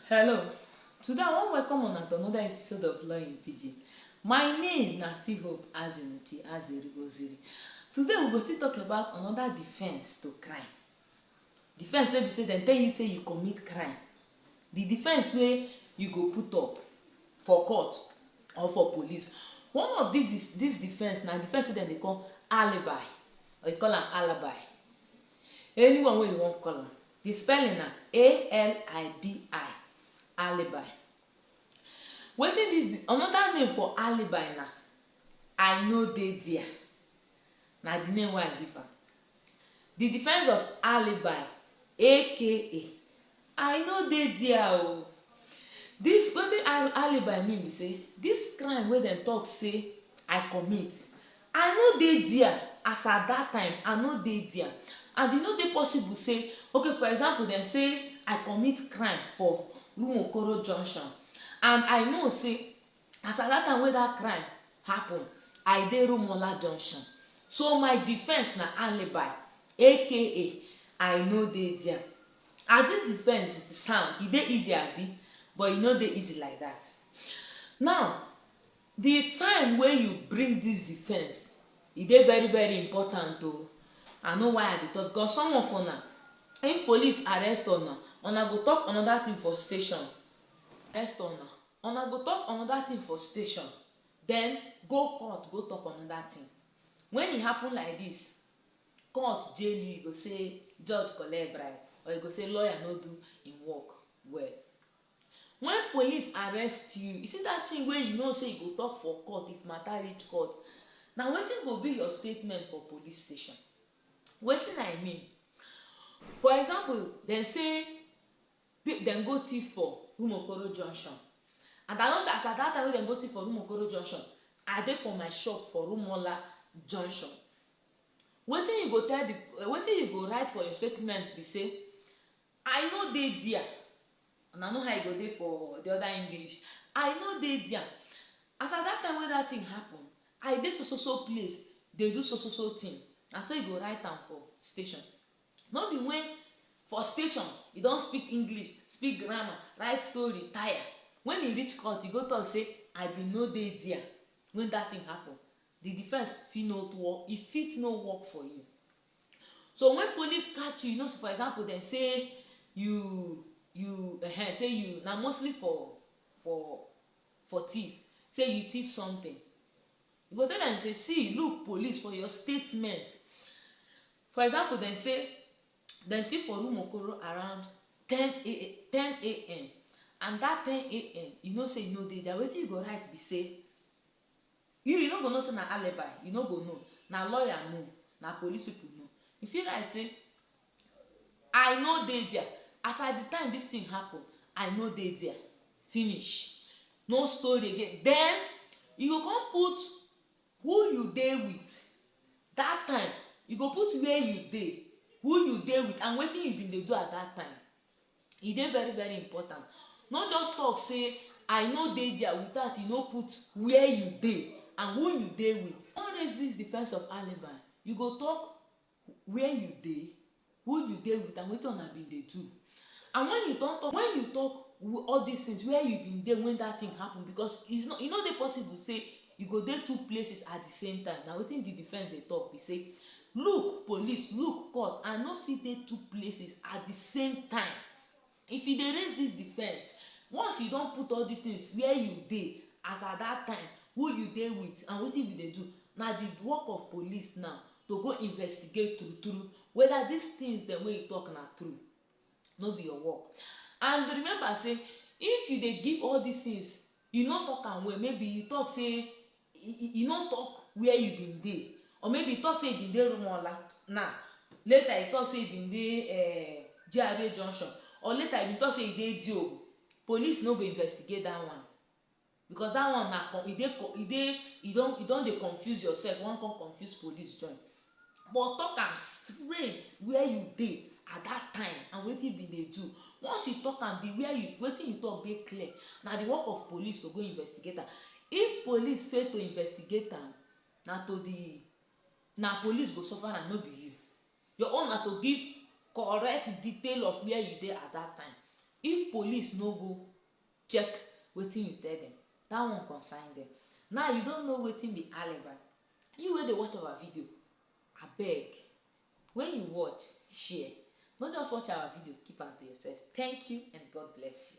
Hello, today I wan welcome una to another episode of Law in Pidgin. My name na still Hope Azimuchi Azeri Oziri. Today we go still talk about another defense to crime. Defense wey be say dem tell you say you commit crime. The defense wey you go put up for court or for police. One of this this defense na defense wey dem dey call alibi or you call am alibi. Anyone wey you wan call am. Di spelling na A-L-I-B-I, Alibi. Wetin be di another name for Alibi na I no dey dia, na di name wey I give am. Di defence of Alibi aka I no dey dia o. Dis wetin alibi mean be say dis crime wey dem talk say I commit I no dey dia as at dat time I no dey dia and e no dey possible say okay for example dem say I commit crime for Rumuokoro junction and I know say As at that time wey that crime happen, I dey Rumuola Junction, so my defence na alibi aka I no dey dia. As this defence sound, e dey easy abi? But e no dey easy like that. Now, the time wey you bring this defence, e dey very very important o. I know why I dey talk because some of una, if police arrest una, una go talk another thing for station. Arrest una. Una go talk another thing for station, then go court go talk another thing. When e happen like this, court jail you, you go say judge collect bribe or you go say lawyer no do im work well. When police arrest you, you see that thing wey you know say you go talk for court if matter reach court, na wetin go be your statement for police station. Wetin I mean, for example, dem say Pe dem go thief for Rumuokoro junction and I know say as at dat time wey dem go thief for Rumuokoro junction, I dey for my shop for Rumuola junction. Wetin you go tell di wetin you go write for your statement be say, I no dey dia, una know how e go dey for di oda English, I no dey dia, as at dat time wey dat tin happun, I dey so so so place dey do so so so tin, na so you go write am for station. No be wen for station e don speak English, speak grammar, write story tire, wen e reach court e go tok say I bin no dey dia wen dat tin happun, di defence fit no work, e fit no work for you. So wen police catch you, you know say for example dem say you you ehen say you na mostly for for for tiff, say you tiff sometin, you go tell dem say see look police for your statement, For example, dem say dem thief for room Okoro around 10 a.m. and that 10 a.m. you know say you no dey there. Wetin you go write be say you you no go know say na alibi, you no go know, na lawyer know, na police people know. You fit write say I no dey there as at the time this thing happen, I no dey there. Finish. No story again. Then you go come put Who you dey with? That time, you go put where you dey, who you dey with and wetin you been dey do at that time. E dey very very important. No just talk say I no dey there without you no put where you dey and who you dey with. No raise this defense of alibi. You go talk where you dey, who you dey with and wetin una bin dey do and wen you don talk wen you talk all dis tins where you bin dey wen dat tin happen because is not e no dey possible sey you go dey two places at di same time na wetin di defence dey talk be sey look police look court I no fit dey two places at di same time If you dey raise dis defence, once you don put all dis tins wia you dey as at dat time, who you dey wit and wetin you bin dey do, na di work of police now to go investigate true true weda dis tins dem wey you tok na true, no be your work. And remember say if you dey give all dis tins, you no tok am well, maybe you tok say e e no talk where you bin dey or maybe e talk say e bin dey rumola now later e talk say e bin dey eh, GRA junction or later e bin talk say e dey Diobu police no go investigate that one because that one na e dey e dey e don e don dey confuse yourself you wan come confuse police join but talk am straight where you dey at that time and wetin you bin dey do once you talk am the where you wetin you talk dey clear na the work of police to go investigate am if police fail to investigate am na to the na police go suffer am no be you your own na to give correct detail of where you dey at that time if police no go check wetin you tell them that one concern them now you don't know wetin be alibi You wey dey watch our video abeg when you watch share no just watch our video keep am to yourself thank you and God bless you.